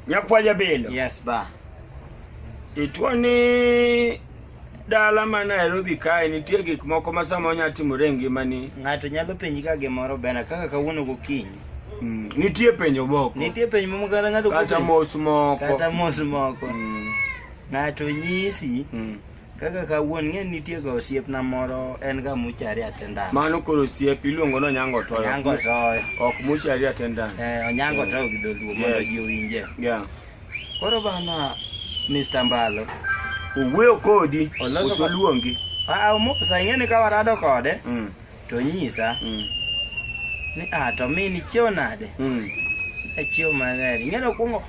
Nyakwa Jabilo. Yes ba. Itwo ni dala ma Nairobi kae nitie gik moko ma sama onya timore e ngimani. Ng'ato nyalo penji ka gimoro bena kaka kawuono gokinyi. Mm. Nitie penjo moko. Nitie penjo moko kata ng'ato kata mos moko. Kata mos moko. Mm. Ng'ato nyisi. Mm. Kaka kawuon ng'e nitie ga osiepna moro en ga muchari attendance. Mano koro osiep iluongo no nyango toyo. Nyango toyo. Ok muchari attendance. Eh, onyango mm. toyo gi dholuo yes. mondo ji owinje. Yeah. Koro bana Mr. Mbalo. Owuoyo kodi. Oloso luongi. Ah, omosa ing'e ni ka warado kode. Mm. to nyisa mm. ni ah, to mi nichiewo nade mm. achiewo maler ing'eyo kwongo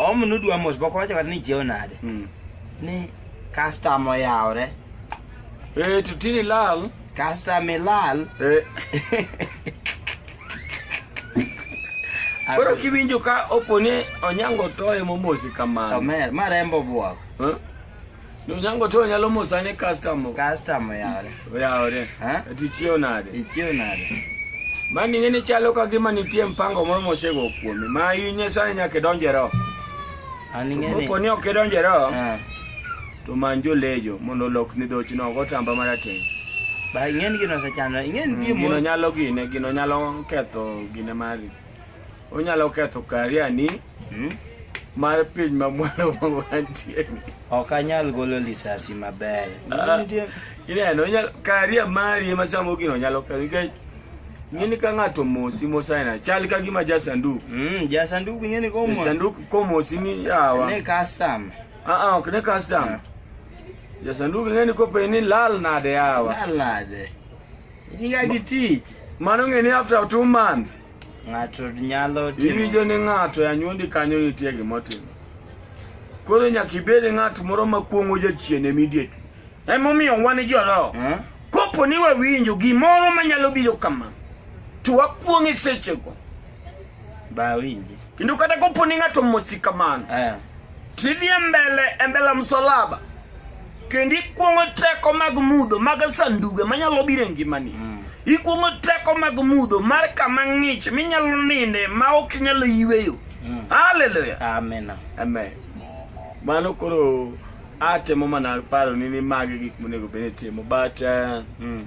om nudwa mos boko wacho kata ni ichiewo nade mm. ni kastama oyawre e eh, to tini lal kastama ilal eh. koro kiwinjo ka opone onyango toye momosi kamano omer marembo bwako huh? Eh? Nonyango to nyalo mosa ne customer. Customer yare. Yare. Ha? Tichio nade? Tichio nade? Mani ngene chalo ka gima nitie mpango moro mosego kuome. Ma yinye sani nyaka donje ro. Ani ngene. Ko ni ok donje ro. Ha. To manjo lejo mondo lok ni dhoch no go tamba marateng. Ba ngene gino sa chano. Ngene mm, gimo. Gino nyalo gine, gino nyalo ketho gine mari. Onyalo ketho kariani. Hmm? mar piny ma mwana wantie ni ok anyal golo lisasi maber ah, ineno karia mari ema sama ogino nyalo ka nikech ng'eni ka ng'ato mosi mosaina chal ka gima ja sanduk mm, ja sanduk ng'eni komo sanduk komosi ni yawa ne custom ah ah ok ne custom yeah. ja sanduk ng'eni kope ni lal nade yawa lal nade ni ga gi tich mano ng'eni after two months Ng'ato nyalo timo. Iwinjo ni ng'ato e anyuondi kanyo nitie gima otimo. Koro nyaka ibed ng'at moro ma kuong'o jachien immediately. Emomiyo wan joroho. Eh? Kopo ni wawinjo gimoro manyalo biro kama, to wakuong'e sechego. Ba winji. Kendo kata kopo ni ng'ato mosi kamano eh. tidhie mbele e mbele msalaba kendo ikwong'o teko mag mudho mag sanduge manyalo biro e ngimani mm. ikwong'o teko mag mudho mar kama ng'ich minyalo ninde ma ok inyalo yweyo mm. haleluya amen amen mano koro atemo mana paro ni ni magi gik monego bed ni timo but uh, mm.